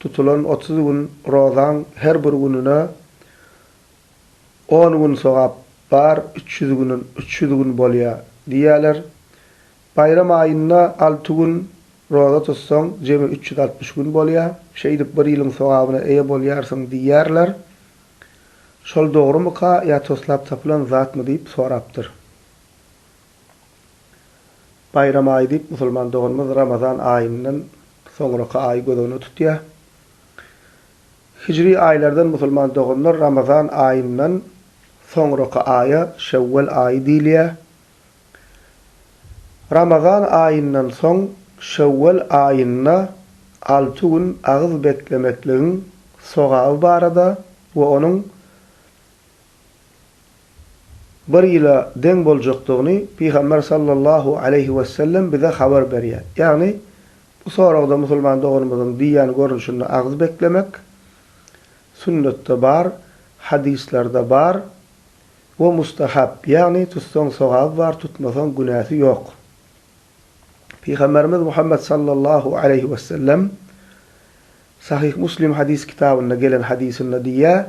Tutulan otuz gün rozaň her bir gününe on gün sogap bar, üç ýüz günin üç ýüz gün bolýa diýýäler. Baýram aýynda alty gün roza tutsaň, jemi üç ýüz altmyş gün bolýa. Şeýdip bir ýylyň sogabyna eýe bolýarsyň diýýärler. Şol dogrumyka ýa toslap tapylan zatmy diýip sorapdyr. Baýram aýy diýip, musulman doganymyz Ramazan aýyndan soňraky aýy göz öňüne tutýar. Hijri aýlardan musulman doganlar Ramazan aýyndan soňraky aýa Şewwel aýy diýilýär. Ramazan aýyndan soň Şewwel aýynda alty gün agyz beklemekligiň sogaby barada we onuň bir ýyla deň boljakdygyny Pygamber sallallahu aleýhi wesellem bize habar berýär. Ýagny, bu soragda musulman doganymyzyň diýýän görnüşinde agyz beklemek, sünnetde bar, hadyslarda bar we mustahab, ýagny tutsaň sogaby bar, tutmasaň günäsi ýok. Pygamberimiz Muhammet sallallahu aleýhi wesellem Sahyh Muslim hadys kitabynda gelen hadysynda diýýär,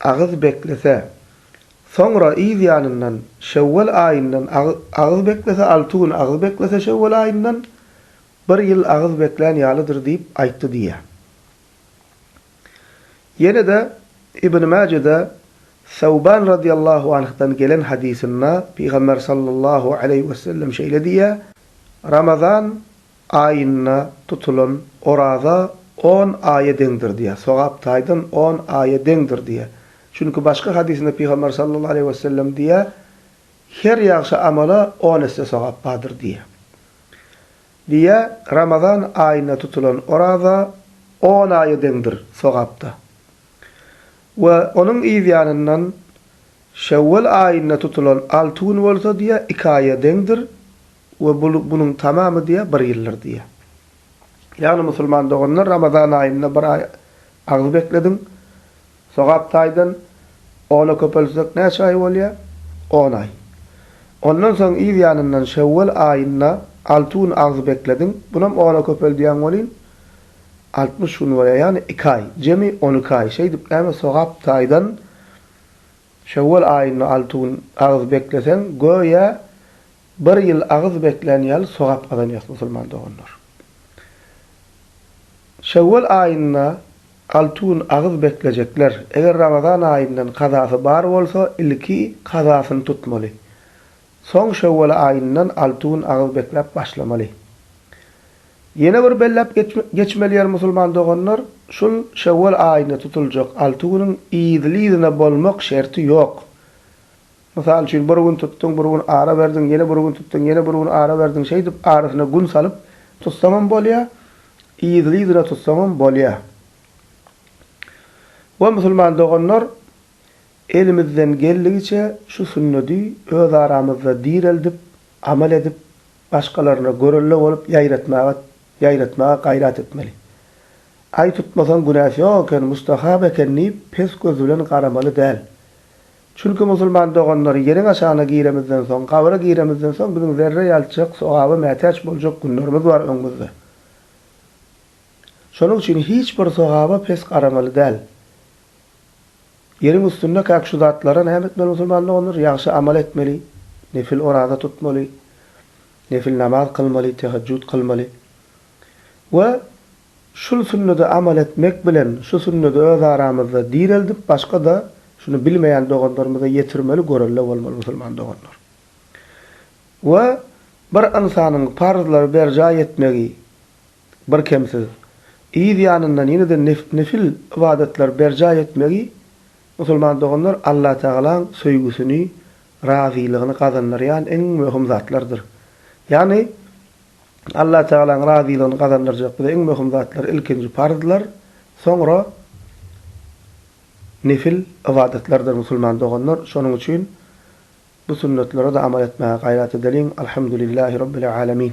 agyz beklese, soňra yz ýanyndan şewwal aýyndan agyz beklese, alty gün agyz beklese şewwal aýyndan bir ýyl agyz beklän ýalydyr diýip aýtdy diýýär. Ýene-de Ibn Mäjede Sawban radyllahu anhdan gelen hadysynda Pygamber sallallahu aleýhi wesellem şeýle diýýär, Ramazan Aýynda tutulan oraza on aýa deňdir diýýär, sogap taýdan on aýa deňdir diýýär. Çünki başga hadysynda Pygamber sallallahu aleýhi wesellem diýýär, Her ýagşy amala on esse sogap bardyr diýýär. Diýýär, Ramazan aýynda tutulan oraza on aýa deňdir sogapda. We onuň yz ýanyndan Şewwal aýynda tutulan alty gün bolsa diýýär, iki aýa deňdir We bu günüň tamamy diýýär, bir ýyldyr diýýär. Ýagny, musulman doganlar, Ramazan aýynda bir aý agzy beklediň. Sogap taýdan ona köpeltsek näçe aý bolýar? On aý. Ondan soň yz ýanyndan şewwal aýynda alty gün agzy beklediň, bunam ona köpeldýäň welin, altmyş gün bolýar, ýagny iki aý, jemi on iki aý. Şeýdip, näme sogap taýdan şewwal aýynda alty gün agzy bekleseň, göýä, Bir ýyl agyz beklän ýaly sogap gazanýas musulman doganlar. Şewwal aýynda alty gün agyz beklejekler, eger Ramazan aýyndan kazasy bar bolsa ilki kazasyny tutmaly. Soň Şewwal aýyndan alty gün agyz bekläp başlamaly. Ýene bir belläp geçmeli ýer musulman doganlar, şul Şewwal aýynda tutuljak alty günüň yzly-yzyna bolmak şerti ýok. Mysal üçin, bir gün tutduň, bir gün ara berdiň, ýene bir gün tutduň, ýene bir gün ara berdiň, şeýdip, arasyna gün salyp tutsaňam bolýar, yzly-yzyna tutsaňam bolýar. We, musulman doganlar, elimizden geldigiçe şu sünnedi özaramyzda direldip, amal edip, başgalaryna görelde bolup ýaýratmaga ýaýratmaga gaýrat etmeli. Aý tutmasaň günäsi ýok eken, mustahap eken diýip, pes göz bilen garamaly däl. Çünki musulman doganlar, ýeriň aşagyna giremizden soň, gabra giremizden soň biziň zerre ýalçjak, sogaba mätäç boljak günlerimiz bar öňümizde. Şonuň üçin hiç bir sogaba pes garamaly däl. Ýeriň üstünde käk şu zatlara näme etmeli musulman doganlar? Ýagşy amal etmeli, nefil oraza tutmaly, nefil namaz kylmaly, tehejjut kylmaly we Şul sünnede amal etmek bilen şu sünnedi öz aramyzda direldip başgada şuny bilmeýän doganlarymyza ýetirmeli görelle bolmaly musulman doganlar. We bir ynsanyň parzlary berjaý etmegi bir kemsiz yz ýanyndan ýene-de nefil ybadatlar berjaý etmegi musulman doganlar Allah tagalaň söýgüsini razylygyny gazandyrýan iň möhüm zatlardyr. Ýagny Allatagalaň razylygyny gazandyrjak bize iň möhüm zatlar ilkinji parzlar, soňra nefil ybadatlardyr musulman doganlar. Şonuň üçin bu sünnetlere-de amal etmäge gaýrat edeliň. Alhamdulillah Rabbil Alamin.